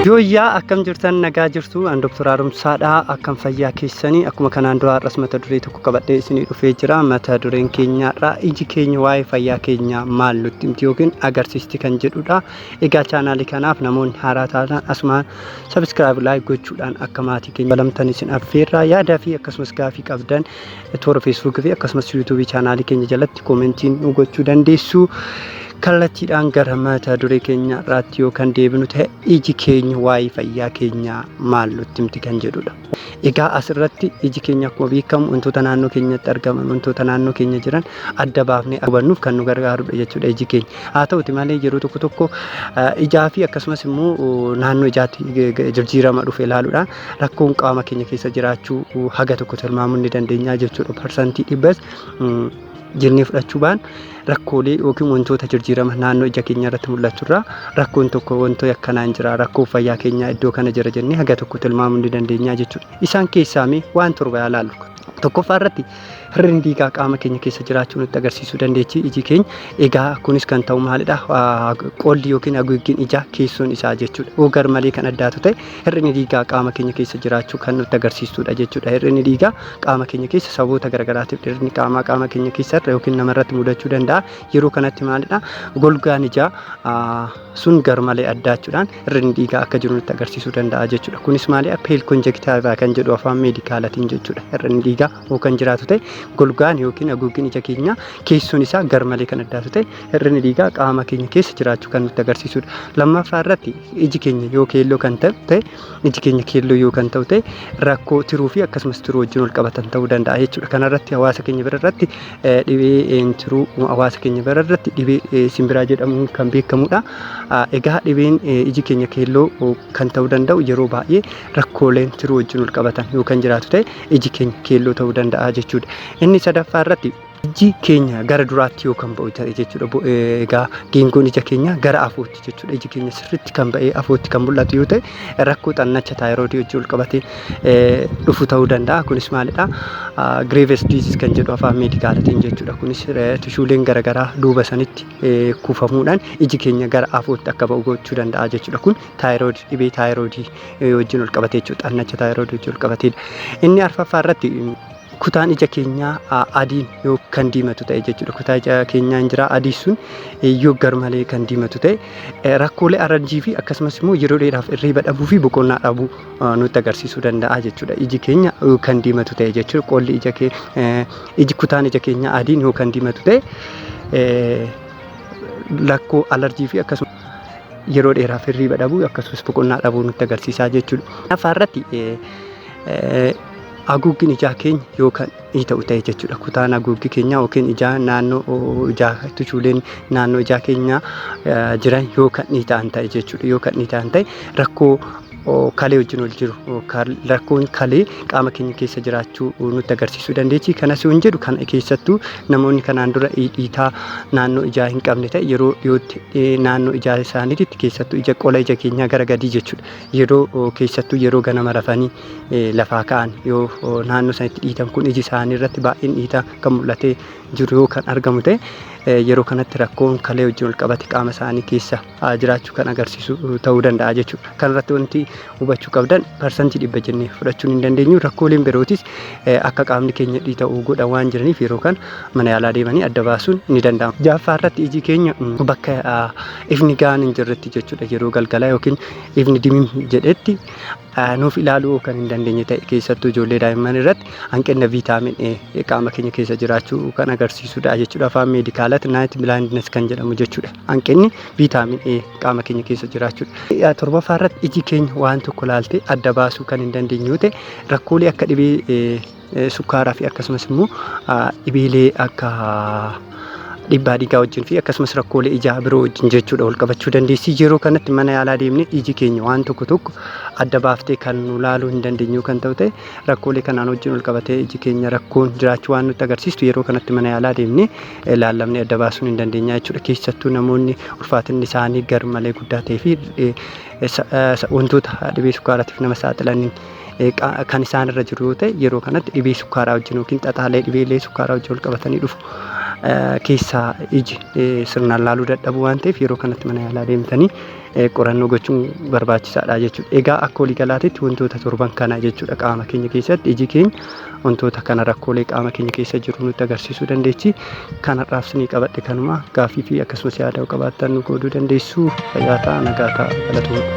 Yooyyaa akkam jirtan nagaa jirtu an Dr. Haaromsaadha akkam fayyaa keessanii akkuma kanaan dura har'as mata duree tokko qabadhee isinii dhufee jira mata dureen keenyaarraa iji keenya waa'ee fayyaa keenyaa maal nutti himti yookiin agarsiisti kan jedhudha egaa chaanaalii kanaaf namoonni haaraa taatan asumaan sabiskiraayib laayik gochuudhaan akka maatii keenya balamtan isin affeerraa yaadaa fi akkasumas gaafii qabdan toora feesbuukii fi akkasumas yuutuubii chaanaalii keenya jalatti koomentiin nu gochuu dandeessu. Kallattiidhaan gara mata duree keenya irraatti yoo kan deebinu ta'e iji keenya waa'ee fayyaa keenyaa maal nutti himti kan jedhudha. Egaa asirratti iji keenya akkuma beekamu wantoota naannoo keenyatti argaman wantoota naannoo keenya jiran adda baafnee hubannuuf kan nu gargaarudha jechuudha iji keenya. Haa ta'uti malee yeroo tokko tokko ijaa fi akkasumas immoo naannoo ijaatti jijjiirama dhufe ilaaluudhaan rakkoon qaama keenya keessa jiraachuu haga tokko tilmaamuun ni dandeenya jechuudha. Parsantii dhibbas jennee fudhachuu baan rakkoolee yookiin wantoota jijjiirama naannoo ija keenya irratti mul'atu irraa rakkoon tokko wantoota akkanaan jira rakkoo fayyaa keenyaa iddoo kana jira jennee haga tokko tilmaamuu ni dandeenya jechuudha. Isaan keessaa mee waan torba haa ilaallu. Tokkoffaa irratti hir'inni dhiigaa qaama keenya keessa jiraachuu nutti agarsiisuu dandeechi iji keenya. Egaa kunis kan ta'u maalidha? Qolli yookiin haguuggiin ijaa keessoon isaa jechuudha. Yoo gar malee kan addaatu ta'e hir'inni dhiigaa qaama keenya keessa jiraachuu kan nutti agarsiistudha jechuudha. Hir'inni dhiigaa qaama keenya keessa sababoota garaagaraatiif dhirni qaamaa qaama keenya keessa irra yookiin namarratti mudachuu danda'a. Yeroo kanatti maalidha? Golgaan ijaa sun gar malee addaachuudhaan Hir'inni dhiigaa akka jiru nutti agarsiisuu danda'a jechuudha. Kunis maali? Peel konjektiivaa kan jedhu afaan meedikaalatiin jechuudha. Hir'inni dhiigaa yoo kan jiraatu ta'e golgaan yookiin haguuggiin ija keenyaa keessoon isaa garmalee kan addaatu ta'e hir'inni dhiigaa qaama keenya keessa jiraachuu kan nutti agarsiisudha. Lammaffaa irratti iji keenya yoo keelloo kan ta'u ta'e iji keenya keelloo yoo kan ta'u ta'e rakkoo tiruu fi akkasumas tiruu wajjin wal qabatan ta'uu danda'a jechuudha. Kanarratti hawaasa keenya bira irratti dhibee tiruu hawaasa keenya bira irratti dhibee simbiraa jedhamuun kan beekamudha. Egaa dhibeen iji keenya keelloo kan ta'uu danda'u yeroo baay'ee rakkooleen tiruu wajjin wal qabatan yoo kan jiraatu ta'e iji keenya keelloo ta'uu danda'a jechuudha. Inni sadaffaa irratti iji keenya gara duraatti yoo kan ba'u ta'e jechuudha. Egaa geengoon ija keenya gara afootti jechuudha. Iji keenya sirriitti kan ba'ee afootti kan mul'atu yoo ta'e rakkoo xannacha taayiroodii wajjin wal qabatee dhufu ta'uu danda'a. Kunis maalidha? Graves disease kan jedhu afaan meedikaalatiin jechuudha. Kunis tishuuleen garaagaraa duuba sanitti kuufamuudhaan iji keenya gara afootti akka ba'u gochuu danda'a jechuudha. Kun taayirood dhibee taayiroodii wajjin ol qabatee jechuudha. Xannacha taayiroodii wajjin ol qabateedha. Inni arfaffaa irratti kutaan ija keenyaa adiin yoo kan diimatu ta'e jechuudha. Kutaa ija keenyaa hin jira adii sun yoo garmalee kan diimatu ta'e rakkoolee arranjii fi akkasumas immoo yeroo dheeraaf irriiba dhabuu fi boqonnaa dhabuu nutti agarsiisuu danda'a jechuudha. Iji keenya kan diimatu ta'e jechuudha. Qolli ija kee iji kutaan ija keenya adiin yoo kan diimatu ta'e lakkoo alarjii fi akkasumas yeroo dheeraaf hirriiba dhabuu akkasumas boqonnaa dhabuu nutti agarsiisaa jechuudha. Afaa irratti haguuggin ijaa keenya yoo kan ii ta'u ta'e jechuudha. Kutaan haguuggi keenyaa yookiin ijaa naannoo ijaa tuchuuleen naannoo ijaa keenyaa jiran yoo kan ii ta'an ta'e jechuudha. Yoo kan ii ta'an ta'e rakkoo kalee wajjin wal jiru rakkoon kalee qaama keenya keessa jiraachuu nutti agarsiisuu dandeechi. Kanas yoon jedhu kan keessattuu namoonni kanaan dura dhiitaa naannoo ijaa hin qabne ta'e yeroo dhiyootti naannoo ijaa isaaniitti keessattuu ija qola ija keenyaa gara gadii jechuudha. Yeroo keessattuu yeroo ganama rafanii lafaa ka'an yoo naannoo isaaniitti dhiitan kun iji isaanii irratti baay'een dhiitaa kan mul'atee jiru yoo kan argamu ta'e yeroo kanatti rakkoon kalee wajjin wal qabate qaama isaanii keessa jiraachuu kan agarsiisu ta'uu danda'a jechuudha. Kanarratti wanti hubachuu qabdan parsantii dhibba jennee fudhachuun hin dandeenyu. Rakkooleen birootis akka qaamni keenya dhiita'u godhan waan jiraniif yeroo kan mana yaalaa deemanii adda baasuun ni danda'ama. Jaaffaa irratti iji keenya bakka ifni gahaan hin jirretti jechuudha yeroo galgalaa yookiin ifni dimim jedhetti nuuf ilaaluu kan hin dandeenye ta'e keessattuu ijoollee daa'imman irratti hanqina viitaamin A qaama keenya keessa jiraachuu kan agarsiisudha jechuudha. Afaan meedikaalatti naayit bilaayindines kan jedhamu jechuudha. hanqinni viitaamin A qaama keenya keessa jiraachuudha. Torbaffaa irratti iji keenya waan tokko laaltee adda baasuu kan hin dandeenye yoo ta'e rakkoolee akka dhibee sukkaaraa fi akkasumas immoo dhibeelee akka dhibbaa dhiigaa wajjin fi akkasumas rakkoolee ijaa biroo wajjin jechuudha wal qabachuu dandeessi. Yeroo kanatti mana yaalaa deemnee iji keenya waan tokko tokko adda baaftee kan nu laaluu hin dandeenyu kan ta'u ta'e rakkoolee kanaan wajjin wal qabatee iji keenya rakkoon jiraachuu waan nutti agarsiistu yeroo kanatti mana yaalaa deemnee laallamnee adda baasuun hin dandeenya jechuudha. Keessattuu namoonni ulfaatinni isaanii gar malee guddaa ta'ee fi wantoota dhibee sukkaaraatiif nama saaxilanii kan isaan irra jiru yoo ta'e yeroo kanatti dhibee sukkaaraa wajjin yookiin xaxaalee dhibeelee sukkaaraa wajjin wal qabatanii dhufu keessaa iji sirnaan laaluu dadhabu waan ta'eef yeroo kanatti mana yaalaa deemtanii qorannoo gochuun barbaachisaadha jechuudha. Egaa akka waliigalaatitti wantoota torban kana jechuudha qaama keenya keessatti iji keenya wantoota kana rakkoolee qaama keenya keessa jiru nutti agarsiisuu dandeechi. Kanarraaf sinii qabadhe kanuma gaaffii fi akkasumas yaada yoo qabaattan nu qooduu dandeessu. Fayyaa ta'aa nagaa ta'aa galatoomaa.